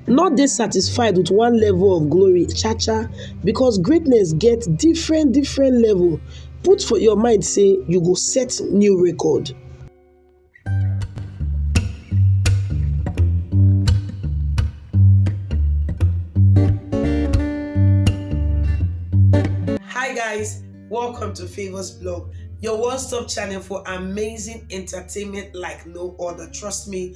No dey satisfied with one level of glory cha cha because greatness get different different level put for your mind say you go set new record. Hi guys, welcome to Favors Blog, your one-stop channel for amazing entertainment like no other. Trust me,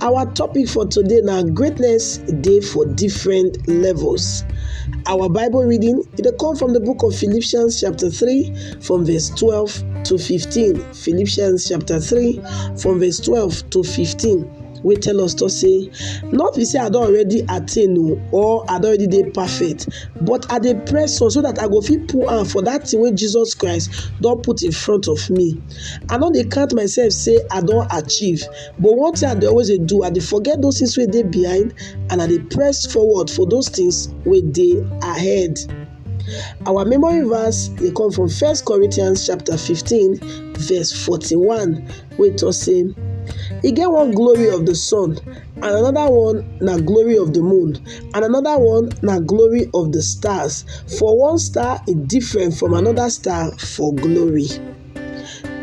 Our topic for today na greatness dey for different levels. Our Bible reading e dey come from the book of Philippians chapter 3 from verse 12 to 15. Philippians chapter 3 from verse 12 to 15 wey tell us to say not be say i don already attain o or i don already dey perfect but i dey press on so that i go fit put hand for that thing wey jesus christ don put in front of me i no dey count myself say i don achieve But one thing I dey always dey do, I dey forget those things wey dey behind and I dey press forward for those things wey dey ahead. Our memory verse dey come from First Corinthians chapter 15 verse 41 wey talk say e get one glory of the sun and another one na glory of the moon and another one na glory of the stars for one star is different from another star for glory.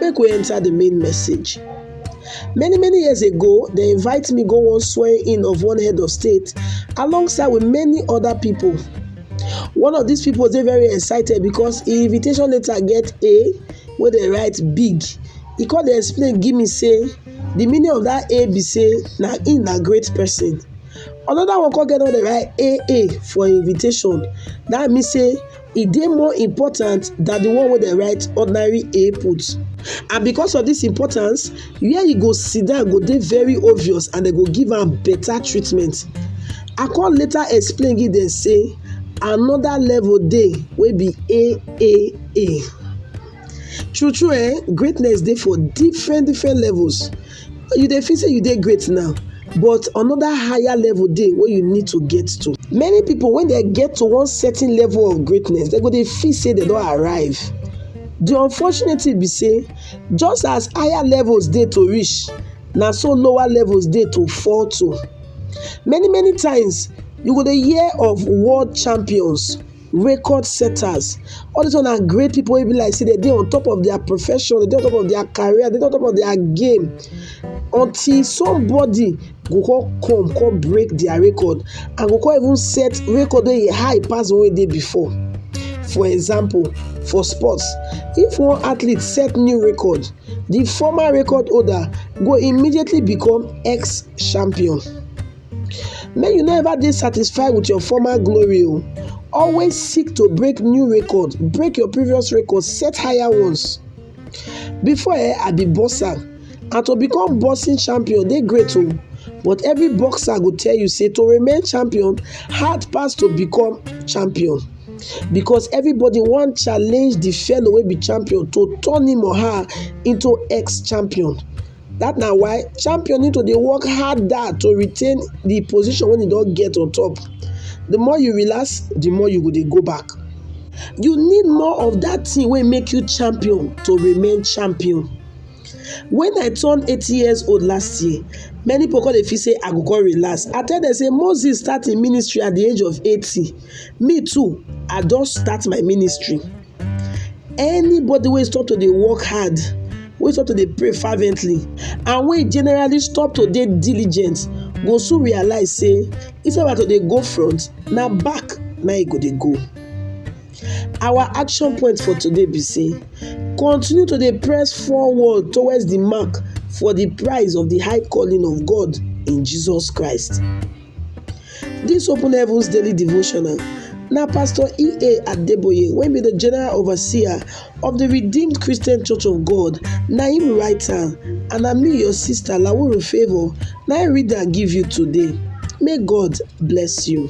Make we enter the main message. Many many years ago, they invite me go one swearing in of one head of state alongside with many other people. One of these people dey very excited because him invitation letter get A wey dey write big. He come dey explain give me say the meaning of that A be say na him na great person. Another one come get one dey write AA for invitation. That mean say e dey more important than the one wey dem write ordinary A put. And because of this importance, where e go sit down go dey very obvious and dem go give am better treatment. I come later explain give dem say another level dey wey be AAA. True true eh, greatness dey for different different levels. you dey feel say you dey great now but another higher level dey wey you need to get to. Many people when they get to one certain level of greatness they go dey feel say they don arrive. The unfortunate thing be say just as higher levels dey to reach na so lower levels dey to fall to. Many many times you go dey hear of world champions record setters all this one na great people wey be like say dem dey on top of their profession dem dey on top of their career dem dey on top of their game until somebody go come come come break their record and go come even set record wey e high pass the one wey dey before for example for sports if one athlete set new record the former record holder go immediately become ex-champion. Make you no ever dey satisfied with your former glory o. Always seek to break new record, break your previous record, set higher ones. Before eh, I be boxer and to become boxing champion dey great o but every boxer go tell you say to remain champion hard pass to become champion because everybody wan challenge the fellow wey be champion to turn him or her into ex-champion. That na why champion need to dey work harder to retain the position wey e don get on top. The more you relax, the more you go dey go back. You need more of that thing wey make you champion to remain champion. When I turn eighty years old last year, many people come dey feel say I go come relax. I tell them say Moses start im ministry at the age of eighty, me too I don start my ministry. Anybody wey stop to dey work hard, wey stop to dey pray fervently and wey generally stop to dey diligent go soon realize sey instead of am to dey go front na back na im e go dey go. Our action point for today be sey continue to dey press forward towards de mark for de prize of de high calling of God in Jesus Christ. Dis Open Heavens Daily Devotional na Pastor E.A. Adeboye wey be the General Overseer of the Redeemed Christian Church of God na him write am and na me your sister Lawuru Favour na him read am give you today. May God bless you.